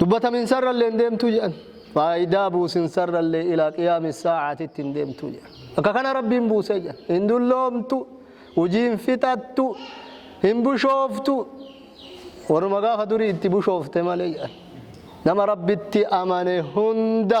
dubbataminsaarrallee hin deemtu jedhan faayidaa buusinsarrallee ilaa qiyaami saacaatitti hin deemtu jedhan akka kana rabbiin buusee jedhan hin dulloomtu hujii hin fixattu hin bushooftu warruma gaafa durii itti bushoofte malee jedhan nama rabbitti amane hunda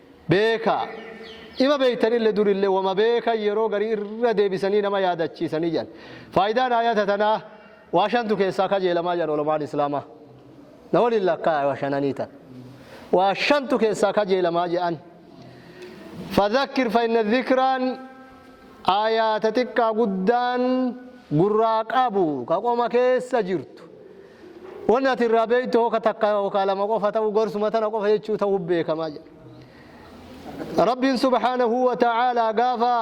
beeka. Ima beektanille durille woma beekan yeroo garii irra deebisanii nama yaadachiisanii jedhan. Faayidaan aayata tanaa waa shantu keessaa kajeelamaa jedhan ulamaan Islaamaa. Na waliin lakkaa'aa waa shananii tana. Waa shantu keessaa kajeelamaa jedhan. Fadhakkir fa inna dhikraa Aayaa ta xiqqaa guddaan gurraa qabu ka qoma keessa jirtu. Wanni ati irraa beektu hooka takka hookaa lama qofa ta'uu gorsuma tana qofa jechuu ta'uu beekamaa jedha. Rabbiin subhaanahu wa ta'aalaa gaafa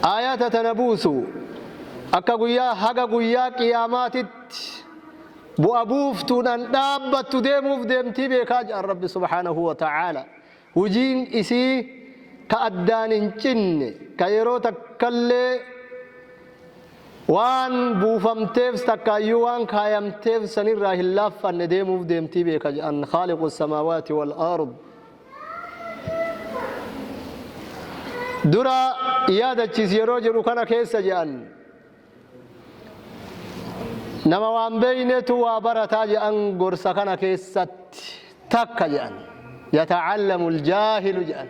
aayaata tana buusu akka guyyaa haga guyyaa qiyaamaatitti bu'a buuftuudhaan dhaabbattu deemuuf deemtii beekaa jedhan Rabbi subhaanahu wa ta'aalaa. Hujiin isii ka addaan hin cinne, ka yeroo takkallee waan buufamteef takkaayyuu waan kaayamteef sanirraa hin laaffanne deemuuf deemtii beeka je'an khaaliqu samaawaati wal ard. Dura yaadachiis yeroo jedhu kana keessa je'an. Nama waan beeynetu waa barataa jedhan gorsa kana keessatti takka jedhan yata'allamu aljaahilu jedhan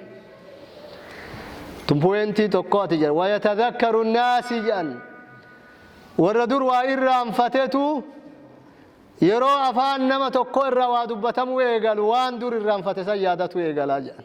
tumpuweentii tokkooti jedhan wayatadakkaru naasii jedhan warra dur waa irraanfatetu yeroo afaan nama tokko irraa waa dubbatamuu eegalu waan dur irraanfate san yaadatu eegalaa jedhan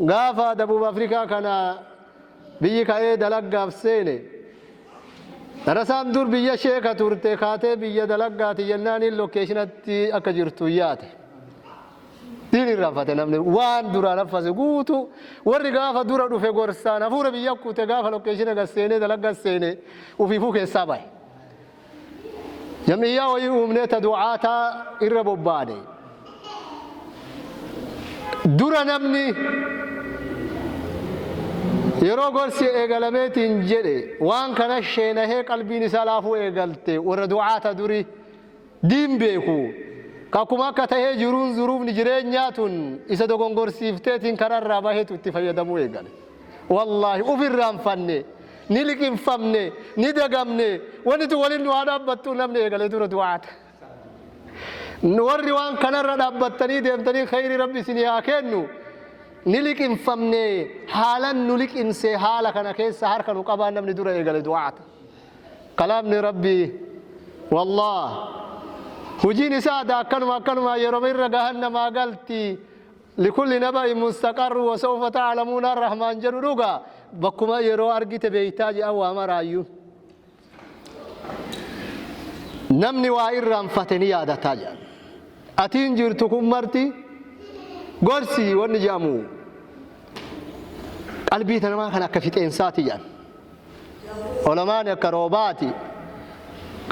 Gaafa Dabuub Afrikaa kana biyyi ka'ee dalaggaaf seene, darasaan dur biyya sheeka turte kaatee biyya dalaggaati jennaaniin lokeeshinatti akka jirtu yaate. Diin irraanfate namni waan duraan haffase guutuu warri gaafa dura dhufe gorsaan hafuura biyya kuute gaafa lokeeshina gad seenee dalagga seene ufiifuu keessaa bahe. Jam'iyyaa wayii uumnee ta du'aata irra bobbaane. Dura namni yeroo gorsi eegalameetiin jedhe waan kana sheenahee qalbiin isaa laafuu eegalte warra du'aata duri diin beeku ka akkuma akka tahee jiruun zuruufni jireenyaa tun isa dogongorsiifteetiin kararraa baheetu itti fayyadamuu eegale. Wallaahi uf irraanfanne. Ni liqinfamne, ni dagamne, wanni tun waliin nu haa dhaabbattu namni eegale dura du'aata. Warri waan kanarra dhaabbattanii deemtanii kheyri Rabbi isinii haa keennu. Ni liqinfamne, haalan nu liqinse haala kana keessa harka nu qabaa namni dura eegale du'aata. Kalaamni Rabbi wallah hujiin isaa ada akkanuma akkanuma yeroma irra gahan namaa galti. Likulli naba'in mustaqarru wasawfa ta'alamuuna Arrahmaan jedhu dhuga bakkuma yeroo argite beektaa jedhan waa maraayyuu. Namni waa irraanfate ni yaadataa jedhan. Atiin jirtu kun marti gorsi wanni jedhamu qalbii namaa kan akka fixeensaati jedhan. Olamaani akka roobaati.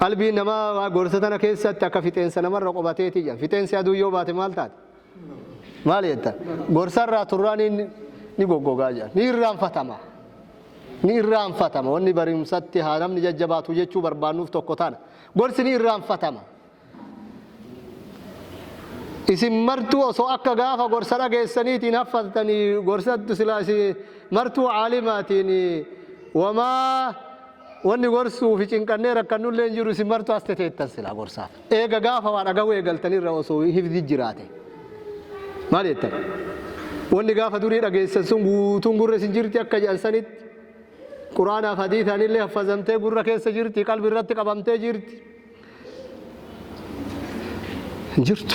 Qalbiin namaa gorsa tana keessatti akka fixeensa namarra qubateeti jedhan. Fixeensi aduu yoo baate maal taate? Maal jetta? Gorsarraa turraaniin ni goggogaa jedhan. Ni irraanfatama. Ni irraanfatama. Wanni barumsatti haa namni jajjabaatu jechuu barbaannuuf tokko tana. Gorsi ni irraanfatama. Isin martuu osoo akka gaafa gorsa dhageessaniitiin haffattanii gorsattu silaa isin martuu caalimaatiin wamaa Wanni gorsuu fi cinqannee rakkannu illee hin jiru isin martuu as teteettan silaa gorsaaf. Eega gaafa waa dhagahuu eegaltan irra osoo hifzi jiraate. Maal jettan? Wanni gaafa durii dhageessan sun guutuun gurra isin jirti akka jedhan sanitti Quraanaaf hadiisaan illee haffazamtee gurra keessa jirti qalbi irratti qabamtee jirti. hin jirtu.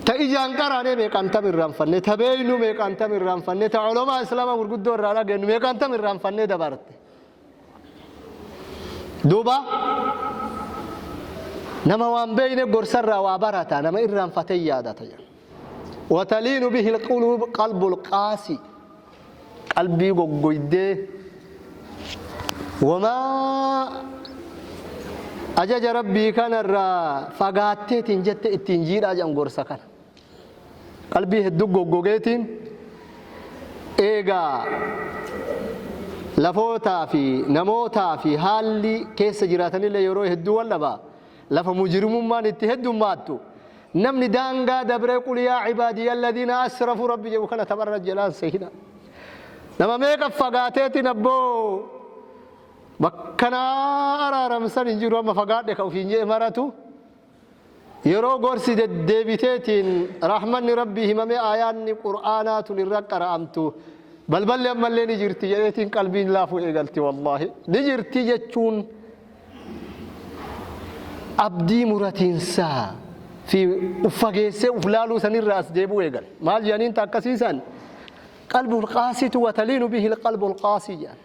Ta ijaan qaraanee meeqaan tam irraanfannee, ta beeynu meeqaan tam irraanfannee, ta olomaa islaama gurguddoo irraa dhageennu meeqaan tam irraanfannee dabarte. Duuba nama waan beeyne gorsarraa waa barata, nama irraanfatee yaadata. Wataliinu bihil quluub qalbul qaasii qalbii goggoydee wamaa ajaja rabbii kanarraa fagaatteetiin jette ittiin jiidhaa jedhan gorsa kana. Qalbii hedduu goggogeetiin eegaa lafootaa fi namootaa fi haalli keessa jiraatanillee yeroo hedduu wal dhabaa Lafa mujrimummaan itti heddummaattu, namni daangaa dabree qul yaa cibaadiyya alladiina asrafuu Rabbi jedhu kana tapharra jalaan sehinaa. Nama meeqa fagaateetiin abboo bakka na araaramsan hin jiru amma fagaadhe ka ofiin jedhe maratu yeroo gorsi deddeebiteetiin rahmanni Rabbii himamee aayaanni qur'aanaa tun irra qara'amtu balballi ammallee ni jirti jedheetiin qalbiin laafuu eegalti wallaahi ni jirti jechuun Abdii muratinsaa fi uf fageessee uf laaluu sanirraa as deebi'uu eegale. Maal jedhaniin ta akkasii san? Qalbul qaasitu wa taliinu bihil qalbul qaasii jedhan.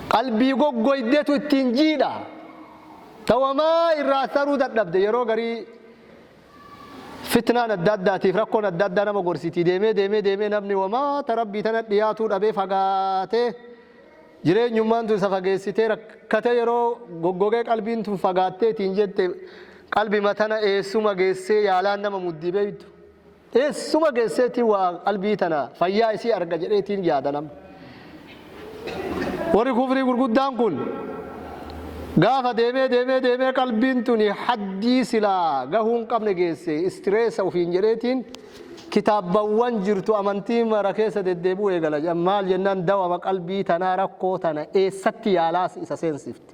Qalbii goggoydetu ittiin jiidha. Ta wamaa irraa as taruu dadhabde yeroo garii fitnaan adda addaatiif rakkoon adda addaa nama gorsitii deemee deemee deemee namni wamaa ta rabbii tana dhiyaatuu dhabee fagaatee Jireenyummaan tun isa fageessitee rakkatee yeroo goggogee qalbiin tun fagaattee ittiin jette qalbima tana eessuma geessee yaalaan nama muddi beektu? Eessuma geesseetiin waa qalbii tana fayyaa isii arga jedheetiin yaada nama. Warri kufrii gurguddaan kun gaafa deemee deemee deemee qalbiin tuni haddii silaa gahuu hin qabne geesse istireessa ofiin jedheetiin Kitaabawwan jirtu amantii mara keessa deddeebi'uu eegala jedhan. Maal jennaan dawama qalbii tanaa rakkoo tana eessatti yaalaas isa seensifti.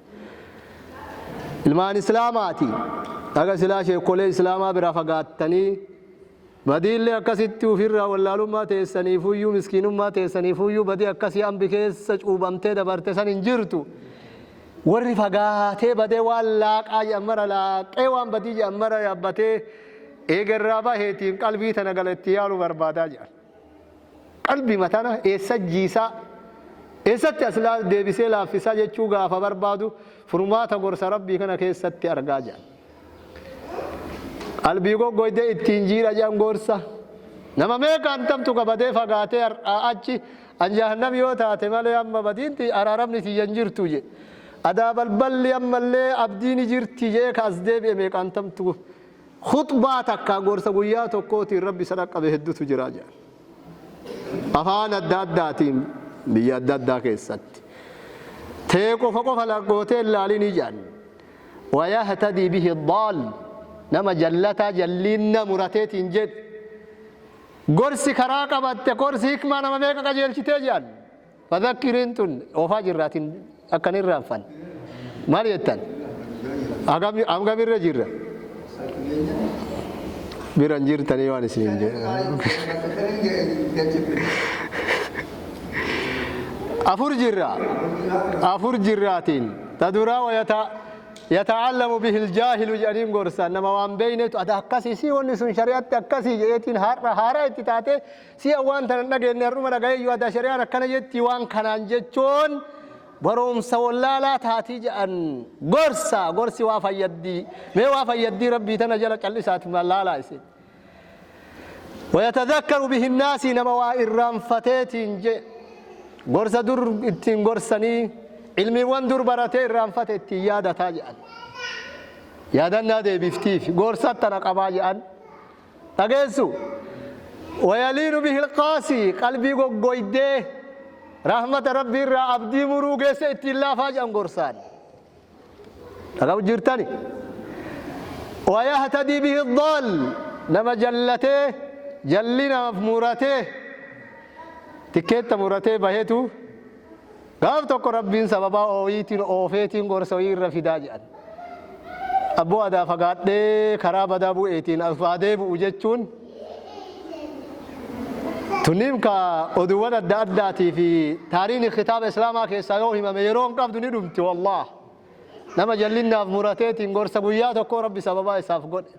Ilmaan Islaamaati. Haga silaa sheekkolee Islaamaa biraa fagaattanii badiillee akkasitti ufirraa wallaalummaa teessaniifuyyuu miskiinummaa teessaniifuyyuu badii akkasii ambi keessa cuubamtee dabarte san hin jirtu. Warri fagaatee badee waan laaqaa jedhan mara laaqee waan badii jedhan mara yaabbatee Eega irraa baheetiin qalbii tana gala itti yaalu barbaadaa jedhan. Qalbima tana eessa jiisaa, eessatti as deebisee laaffisaa jechuu gaafa barbaadu furmaata gorsa Rabbii kana keessatti argaa jedhan. Qalbii goggoyde ittiin jiidha jedhan gorsa. Nama meeqa antamtu qabadee fagaatee har'aa achi an jahannam yoo taate malee amma badiinti araaramni tiyya hin jirtu je. Adaa balballi ammallee abdiini jirti jee ka as deebi'e meeqa antamtu Khuxbaa takkaa gorsa guyyaa tokkootiin Rabbi isa dhaqqabe heddutu jira jedhan. Afaan adda addaatiin biyya adda addaa keessatti. Tee qofa qofa lagootee hin laalinii jedhan. Wayahtadii bihi daal nama jallataa jalliinna murateetiin jedhe. Gorsi karaa qabatte gorsi hikmaa nama meeqa qajeelchitee jedhan. Fadhakkiriin tun oofaa jirra atin akka hin irraanfanne. Maal jettan? Hagam hangam irra jirra? Bira hin jirtanii waan isiniin jedhe. Afur jirra. Afur jirraatiin. Ta duraa wa yata yata'allamu bihil jaahilu jedhaniin gorsan nama waan beeynetu ada akkasii si wanni sun shari'atti akkasii jedheetiin har'a haaraa itti taate Si'a waan tana hin dhageenne har'uma dhagayee yoo ati shari'aan akkana jetti waan kanaan jechuun baroomsa wallaalaa taatii ja'an gorsa gorsi waa fayyaddii mee waa fayyaddii rabbii tana jala callisaati maal laalaa isin wayatadhakkaru bihinnaasii nama waa irraanfateetiin je gorsa dur ittiin gorsanii ilmiiwwan dur baratee irraanfate ittiin yaadataa ja'an yaadannaa deebiftiif gorsa tana qabaa ja'an dhageessu. Wayaliinu bihil qaasii qalbii goggoydee rahmata Rabbii irraa abdii muruu geesse ittiin laafaa jedhan gorsaan. Dhagahu jirtani. Wayahtadii bihil daal nama jallatee jallinaaf muratee tikkeetta muratee bahetu Gaaf tokko Rabbiin sababaa ooyiitiin oofeetiin gorsa wayii irra fidaa jedhan. Abboo adaa fagaadhee karaa badaa bu'eetiin as haa deebi'u jechuun tunniin ka oduuwwan adda addaatii fi taariini kitaaba Islaamaa keessaa yoo himame yeroo hin qabdu ni dhumti wallaah. Nama jallinnaaf murateetiin gorsa guyyaa tokkoo Rabbi sababaa isaaf godhe.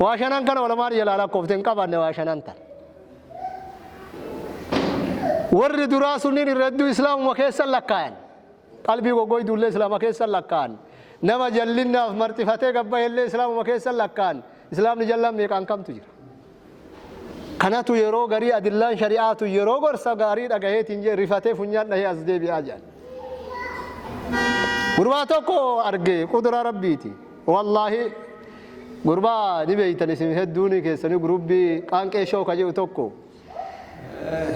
Waa shanan kana ulamaan jalaa lakkoofte hin qabanne waa shanan tana. Warri duraa sunniin irra hedduu islaamuma keessan lakkaayan. Qalbii goggoyduu illee islaama keessan lakkaayan. Nama jallinnaaf marxifatee gabbahe illee islaamuma keessan lakkaayan. Islaamni jallaan meeqaan kamtu jira? Kanatu yeroo garii adillaan shari'aa tun yeroo gorsa gaarii dhagaheetiin jee rifatee funyaan dhahee as deebi'aa jedhan. Gurbaa tokko arge qudura rabbiiti. Wallaahi gurbaa ni beeytan isin hedduun keessanii gurubbii qaanqee shoo ka jedhu tokko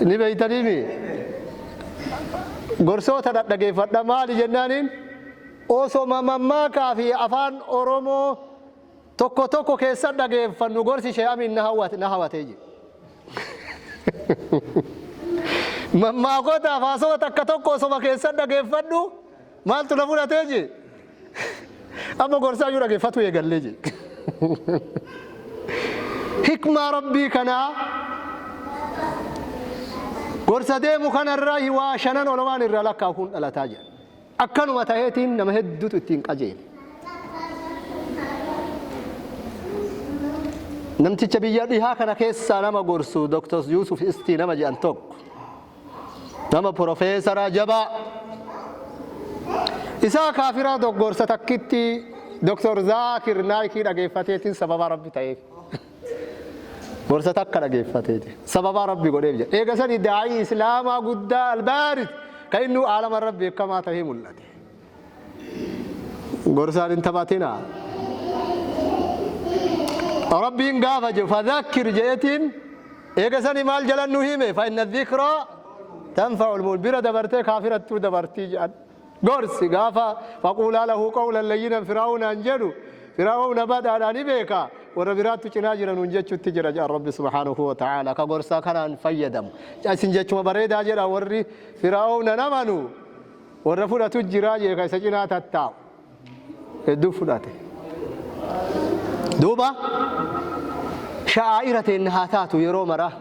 ni beeytaniimi. Gorsoota dhadhageeffadha maali jennaaniin osoma mammaakaa fi afaan Oromoo Tokko tokko keessa dhageeffannu gorsi Shee Amiin na hawwate na hawatee jira. Mammaakoota afaasota takka tokko osoma keessa dhageeffadhu maaltu na fudhatee jee. Amma gorsaa iyyuu dhageeffatu eegallee jee. Hikmaa rabbii kanaa gorsa deemu kanarraa waa shanan olomaan irraa lakkaa'u kun dhalataa jira. Akkanuma ta'eetiin nama hedduutu ittiin qajeele. Namticha biyya dhihaa kana keessaa nama gorsu Dr. Yuusuf Istii nama jedhan tokko. Nama profeesaraa jabaa. Isaa kaafiraa doggorsa takkitti Dr. Zaakir Naayikii dhageeffateetiin sababaa Rabbi ta'eef. Gorsa takka dhageeffateeti. Sababaa Rabbi godheef jedha. Eega sanii daa'ii Islaamaa guddaa Albaaris ka innuu aalama irra beekamaa tahee mul'ate. Gorsaan hin taphatinaa. Rabbiin gaafa jedhu fadhakkir jedhetiin eega sanii maal jalan nu hime fa inna dhikraa tanfa'ul mu'min bira dabartee kaafirattuu dabartii jedhan. Gorsi, gaafa faquulaa lahu qawlan layyinan Fir'awnaan jedhu, Fir'awna badhaadha ni beeka, warra biraattu cinaa jira nuun jechutti jira jedhan Rabbi subhaanahu wa ta'aalaa. Ka gorsa kanaan fayyadamu. Isin jechuma bareedaa jedha warri Fir'awnan amanu, warra fudhatu jira jee ka isa cinaa tattaa'u. hedduu fudhate. Duuba sha'aa'ira teenna haa taatu yeroo maraa.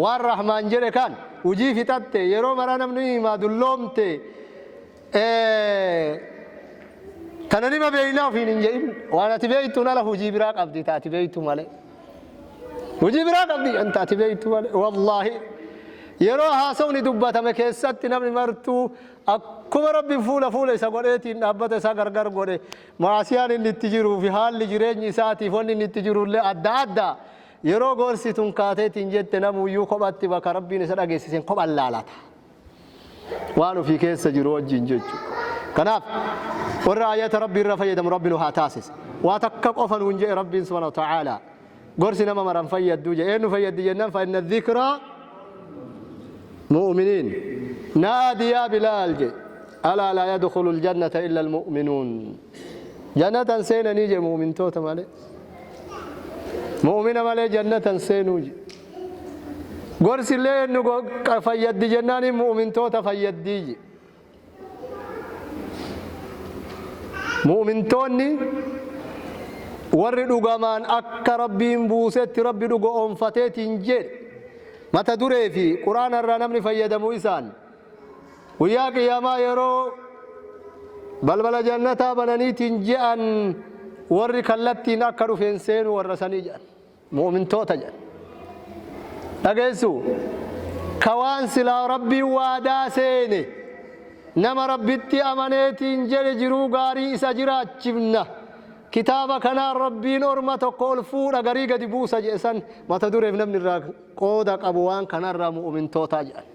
Waan Rahmaan jedhe kaan hujii fixatte yeroo maraa namni himaa dulloomte tana nima beeynaa ofiin hin jedhin. Waan ati beeytuun ala hujii biraa qabdi ta ati beeytu malee. Hujii biraa qabdi ta ati beeytu malee. Wallaahi yeroo haasawni dubbatame keessatti namni martuu Akkuma Rabbi fuula fuula isa godheetiin dhaabbata isaa gargar godhe, ma'asiyaan inni itti jiruu fi haalli jireenyi isaatiif wanni inni itti jiru illee adda adda. Yeroo gorsi tun kaateetiin jette namuuyyuu kophatti bakka Rabbiin isa dhageessiseen kophan laalata. Waan ofii keessa jiru wajjiin jechu. Kanaaf warra aayata Rabbii irraa fayyadamu Rabbi nu haa taasisu. Waa takka qofa nuun je'e Rabbiin subhaanahu wa ta'aalaa. Gorsi nama mara hin fayyaddu jedhe. Eenyu fayyaddi jennaan fa inna dhikraa mu'uminiin. Naadi yaa Bilaal jedhe. Alaa laa yadkhulul jannata illal mu'uminuun. Jannata hin seenanii jedhe mu'umintoota malee. Mu'umina malee jannata hin seenuu jedhe. Gorsillee eenyu fayyaddi jennaaniin mu'umintoota fayyaddii jedhe. Mu'mintoonni warri dhugamaan akka Rabbiin buusetti Rabbi dhuga oonfateetiin jedhe mata duree fi Quraana irraa namni fayyadamu isaan guyyaa qiyaamaa yeroo balbala jannataa bananiitiin je'an warri kallattiin akka dhufeen seenu warra sanii jedhan. Mu'umintoota jedha. Dhageessu? Ka waan silaa Rabbiin waadaa seene, nama Rabbitti amaneetiin jedhe jiruu gaarii isa jiraachifna, kitaaba kanaan Rabbiin orma tokko ol fuudha garii gadi buusa jedhe san mata dureef namni irraa qooda qabu waan kanarraa mu'umintoota jedhan.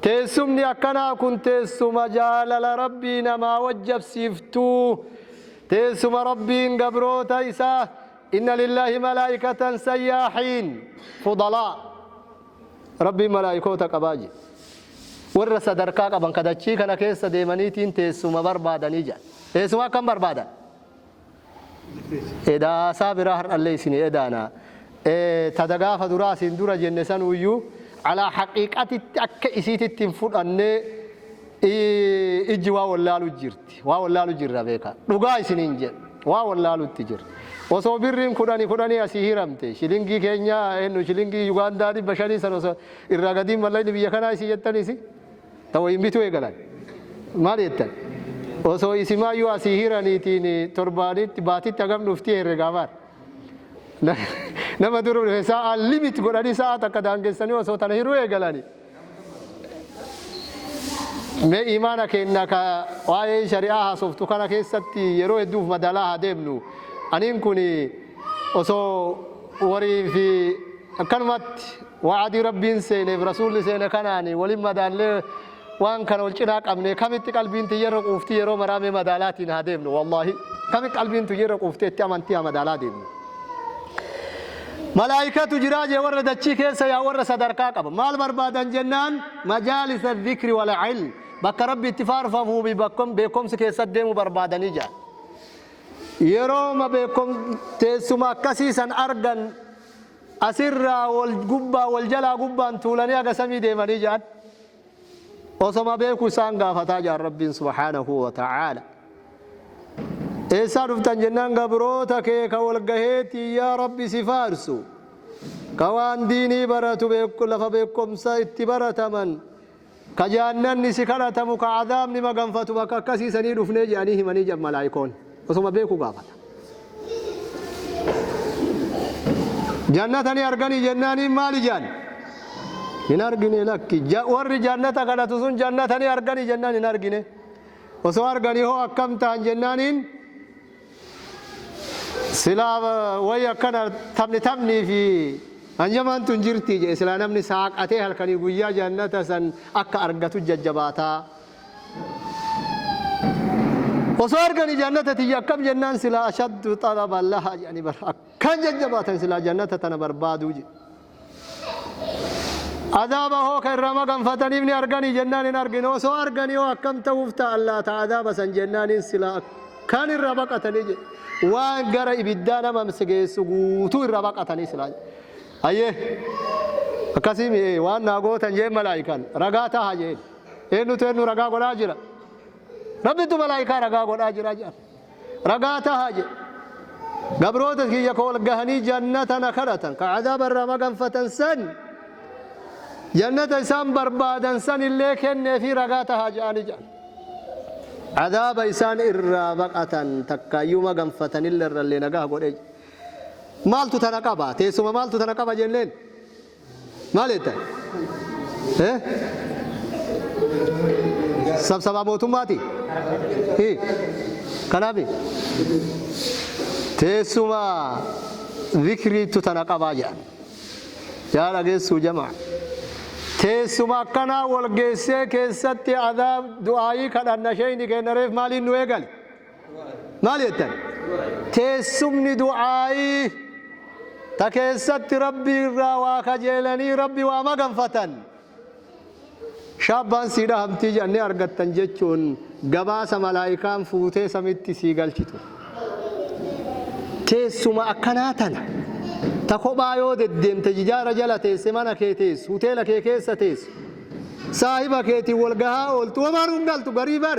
Teessumni akkanaa kun teessuma jaalala Rabbii namaa wajjabsiiftu. Teessuma Rabbiin gabroota isaa inna lillahi malaa'ikatan sayyaahiin fudalaa. Rabbiin malaa'ikoota qabaa jedhe. Warra sadarkaa qaban kadachii kana keessa deemaniitiin teessuma barbaadanii jedhan. Teessuma akkam barbaadan? Edaa haasaa biraa har'allee isinii edaana. Tada gaafa duraa asiin dura jenne sanuuyyuu alaa haqiiqatitti akka isiititti hin fudhannee ijji waa wallaalu jirti. Waa wallaalu jirra beeka. Dhugaa isiniin jedha. Waa wallaalutti jirra. Osoo birriin kudhani kudhanii asii hiramte shilingii keenyaa eennu shilingii Yugaandaa dhibba shanii san osoo irraa gadiin mallaqni biyya kanaa isin jettaniisi. ta wayiin bituu eegalan. Maal jettan? Osoo isimaayyuu asii hiraniitiin torbaanitti baatitti hagam dhuftii herregaa bar. Nama duru dhufe sa'a limit godhanii sa'a takka daangessanii osoo tana hiruu eegalanii. Mee imaana keenna ka waa'ee shari'aa haasoftu kana keessatti yeroo hedduuf madaalaa haa deemnu. Aniin kun osoo warii fi akkanumatti Wa'adii Rabbiin seenee fi Rasuulli seene kanaan wal hin madaallee waan kana wal cinaa qabnee kamitti qalbiin tiyya irra quufti yeroo maraa mee madaalaatiin haa deemnu wallaahi kamitti qalbiin tiyya irra quuftee itti amantii haa madaalaa deemnu. Malaa'ikatu jiraa jee warra dachii keessa yaa warra sadarkaa qaba. Maal barbaadan jennaan majaalisa dhikri wal ilm bakka rabbi itti faarfamuu fi bakkom beekomsi keessa deemu barbaadanii jaa. Yeroo ma beekom teessuma akkasii san argan Asirraa wal gubbaa wal jalaa gubbaan tuulanii haga samii deemanii ja'an. Osoma beeku isaan gaafataa ja'an Rabbiin subhaanahu wa ta'aala. Eessaa dhuftan jennaan gabroota kee ka wal gaheetii yaa Rabbi si faarsu. Ka waan diinii baratu lafa beekomsa itti barataman. Ka Jahannanni si kadhatamu ka Azaabni maganfatu bakka akkasii sanii dhufnee je'anii himanii jedhan Malaa'ikoonni. Osoma beekuu gaafata. Jannata ni arganii jennaaniin maali je'an? Hin argine lakki. Ja, warri Jannata kadhatu sun Jannata ni arganii jennaan hin argine. Osoo arganii hoo akkam ta'an jennaaniin Silaa wayi akkana taphni taphni fi hanyamaan tun jirtii jedhe silaa namni saaqatee halkanii guyyaa jannata san akka argatu jajjabaataa. Osoo arganii jannata tiyya akkam jennaan silaa ashaddu xalaban lahaa jedhanii bar akkaan jajjabaatan silaa jannata tana barbaaduu jedhe. Azaaba hoo ka irraa maganfataniif ni arganii jennaan hin argine osoo arganii hoo akkam ta'uuf ta'an laata azaaba san jennaaniin silaa akkaan irra baqatanii jedhe waan gara ibiddaa nama geessu guutuu irra baqatanii silaa jedhe ayyee akkasii mi'ee waan naa gootan jeen malaayikaan ragaa taha jeen eenyutu eenyu ragaa godhaa jira rabbitu malaayikaa ragaa godhaa jira jedhan ragaa tahaa jedhe. Gabroota kiyya ka wal gahanii jannata na kadhatan, ka azaaba irraa maganfatan san, jannata isaan barbaadan san illee kenneefii ragaa tahaa jedhaanii jedhan. Azaaba isaan irraa baqatan takkaayyuu maganfatan illee irrallee nagaha godhee jedhe. Maaltu tana qaba? Teessuma maaltu tana qaba jenneen? Maal jettan? Eh? Sabsabaa mootummaati? Hi. Kanaafi? Teessuma zikriittu tana qabaa jedhan. Yaa dhageessuu jamaa. Teessuma akkanaa wal geessee keessatti adaa du'aayii kadhanna sheeyni keenya reef maaliin nu eegale? maal jettan teessumni du'aa'ii ta keessatti rabbi irraa waa kajeelanii rabbi waa maganfatan shaabbaan sii dhahamtii jedhanii argattan jechuun gabaasa malaayikaan fuutee samitti sii galchitu teessuma akkanaa tana ta kophaa yoo deddeemte jijaara jala teesse mana kee teessu hoteela kee keessa teessu saahiba keetiin wal gahaa ooltu wamaanuu hin galtu garii bar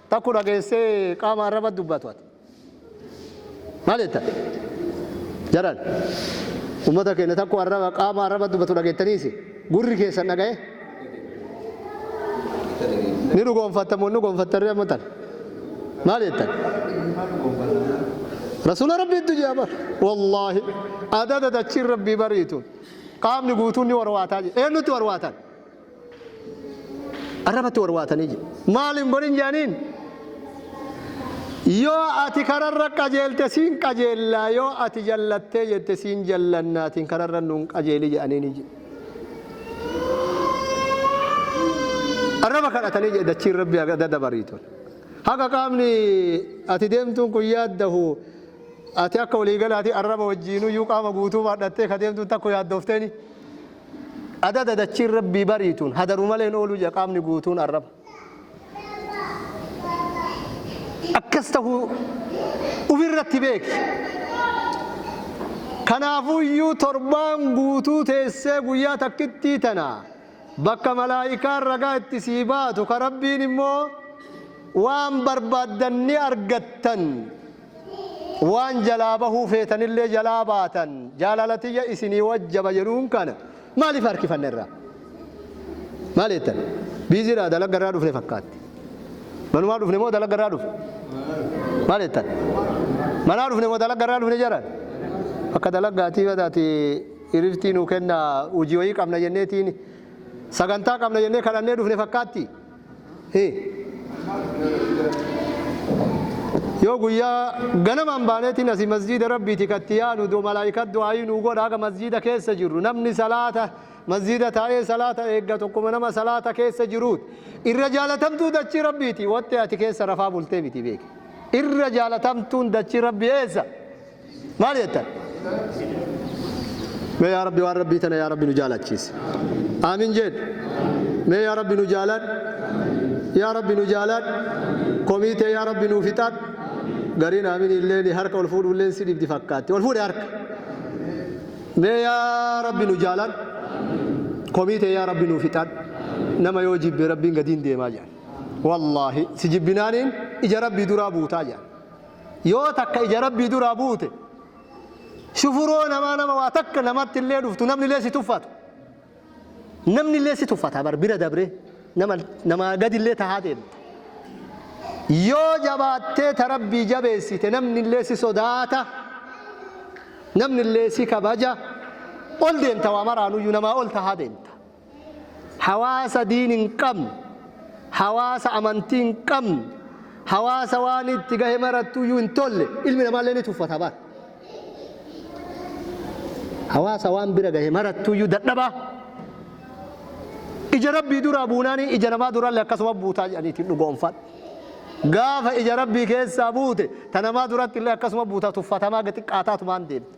Takku dhageessee qaama arraba dubbatu ati. Maal jetta? Jaran. Ummata keenya takku arraba qaama arraba dubbatu dhageettaniisi. Gurri keessan dhaga'ee? Ni dhugoonfatta moo hin dhugoonfattan amma tan? Maal jettan? Rasuula Rabbiitu jira bar. Wallaahi. Adada dachiin Rabbii bariitu. Qaamni guutuun ni warwaataa jira. Eenyutti warwaatan? arrabatti warwaatanii jedhe. Maal hin godhin jedhaniin? Yoo ati kararra qajeelte siin qajeellaa yoo ati jallattee jette siin jallannaatiin kararra nuun qajeeli jedhaniin jedhe. Arraba kadhatanii jedhe dachiin rabbi adda dabarii tole. Haga qaamni ati deemtuun kun yaaddahu ati akka waliigalaatii arraba wajjiinuu iyyuu qaama guutuu baadhattee ka deemtuun takko yaaddoofteeni. Adada dachiin Rabbii bariituun hadaru malee hin oolu jedha qaamni guutuun arraba. Akkas tahuu ufirratti beeki. Kanaafuyyuu torbaan guutuu teessee guyyaa takkittii tana bakka malaa'ikaan ragaa itti sii baatu ka Rabbiin immoo waan barbaaddan ni argattan Waan jalaa bahuu feetanillee jalaa baatan, jaalala tiyya isinii wajjaba jedhuun kana maaliif harkifanna irraa? Maal jettan? Biizii dha, dalagga irraa dhufne fakkaatti. Manumaa dhufne moo dalagga irraa dhufne? Maal jettan? Manaa dhufne moo dalagga irraa dhufne jedhan? Akka dalaggaatii bada ati iriftii nuu kenna hojii wayii qabna jenneetiin sagantaa qabna jennee kadhannee dhufne fakkaatti. Hi. Yoo guyyaa ganamaan baaneetiin asii masjiida rabbiiti katti yaanu do malaayika du'aayii nuu godha haga masjiida keessa jirru namni salaata masjiida taa'ee salaata eegga tokkuma nama salaata keessa jiruut irra jaalatamtuu dachii rabbiiti wattee ati keessa rafaa bultee miti beeki irra jaalatamtuun dachii rabbi eessa Maal jettan? Mee yaa Rabbi waan Rabbii tana yaa Rabbi nu jaalachiisi. Aamin jedhu. Mee yaa Rabbi nu jaalaadhu. Yaa Rabbi nu jaalaadhu. Komii tee yaa Rabbi nuu fixaadhu. Gariin aamin illee ni harka ol fuudhu illee si dhibdi fakkaatti. Ol fuudhe harka. Mee yaa Rabbi nu jaalaadhu. Komii tee yaa Rabbi nuu fixaadhu. Nama yoo jibbe Rabbiin gadiin deemaa jedhan. Wallaahi si jibbinaaniin ija Rabbii duraa buutaa jedhan. Yoo takka ija Rabbii duraa buute, shufuroo namaa nama waa takka namatti illee dhuftu namni illee si tuffatu. Namni illee si tuffata bar bira dabree nama namaa gadi illee tahaa deemta. Yoo jabaattee ta Rabbii jabeessite namni illee si sodaata. Namni illee si kabaja. Ol deemta waa maraanuyyuu namaa ol tahaa deemta. hawaasa diin hin qabne, hawaasa amantii hin qabne, hawaasa waan itti gahe marattuyyuu hin tolle ilmi namaallee ni tuffata bar. Hawaasa waan bira gahe marattuyyuu dadhabaa ija rabbii duraa buunaanii ija namaa durallee akkasuma buutaa jedhaniitiin dhugoonfadha. Gaafa ija rabbii keessaa buute ta namaa duratti illee akkasuma buutaa tuffatamaa xiqqaataatumaan deemte.